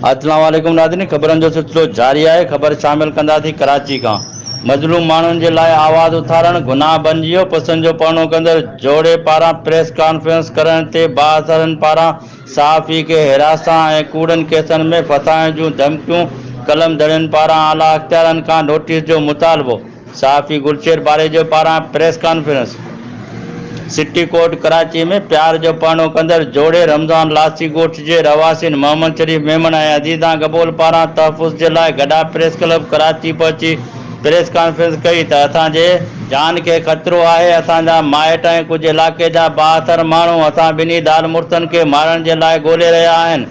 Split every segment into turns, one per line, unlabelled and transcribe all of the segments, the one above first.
اسلام عليڪم ناظرين خبرن جو سلسلو جاري آهي خبر شامل ڪنداسين ڪراچي کان مظلوم ماڻهن جي لاء آواز اٿارڻ گناهه بنجي ويو پسند جو پڙهڻو ڪندڙ جوڙي پاران پريس ڪانفرنس ڪرڻ تي بااثرن پاران صحافي کي حراسان ۽ ڪوڙن ڪيسن ۾ ڦاسائڻ جون ڌمڪيون، قلمدڙين پاران اعليٰ اختيارن کان نوٽيس جو مطالبو، صحافي گلشير پاريجو پاران press conference, city court Karachi ۾ پيار جو پڙهڻو ڪندڙ جوڙي رمضان لاسي ڳوٺ جي رهواسين محمد شريف ميمڻ ۽ عزيزان گبول پاران تحفظ جي لاء گڏا پريس ڪلب ڪراچي پهچي پريس ڪانفرنس ڪئي ته اسان جي جان کي خطرو آهي، اسان جا مائٽ ۽ ڪجهه علائقي جا بااثر ماڻهو اسان ٻنهي زال مڙسن کي مارڻ جي لاء ڳولي رهيا آهن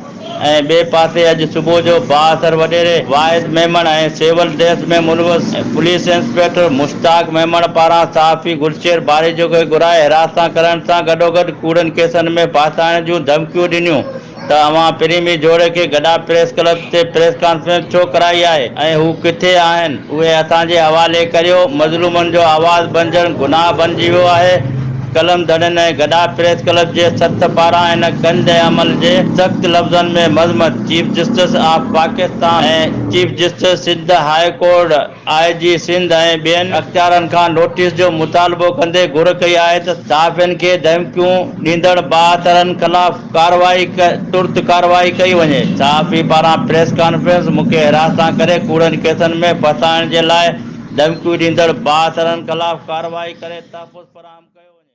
۽ ٻئي پاسي اڄ صبح جو بااثر وڏيري واحد ميمڻ ۽ سول ڊريس ۾ ملوث پوليس انسپيڪٽر مشتاق ميمڻ پاران صحافي گلشير ٻاريجو کي گهرائي حراست سان ڪرڻ سان گڏوگڏ ڪوڙن ڪيسن ۾ ڦاسائڻ جون ڌمڪيون ڏنيون ته اوهان پرين مير جوهي کي گڊا پريس ڪلب تي پريس ڪانفرنس ڇو ڪرائي آهي ۽ هو ڪٿي آهن اهي اسان جي حوالي ڪريو مظلومن جو آواز بنجڻ گناهه بنجي ويو آهي قلم ڌڻين ۽ گڊا پريس ڪلب جي سٿ پاران ان گند عمل جي سخت لفظن ۾ مذمت chief justice of Pakistan ۽ chief justice Sindh high court I G Sindh ۽ ٻين اختيارين کان نوٽيس جو مطالبو ڪندي گهر ڪئي آهي ته صحافين کي ڌمڪيون ڏيندڙ بااثرن خلاف ڪارروائي ترت ڪارروائي ڪئي وڃي، صحافي پاران پريس ڪانفرنس، مون کي حراسان ڪري ڪوڙن ڪيسن ۾ ڦاسائڻ جي لاء ڌمڪيون ڏيندڙ بااثرن خلاف ڪارروائي ڪري تحفظ فراهم ڪيو وڃي.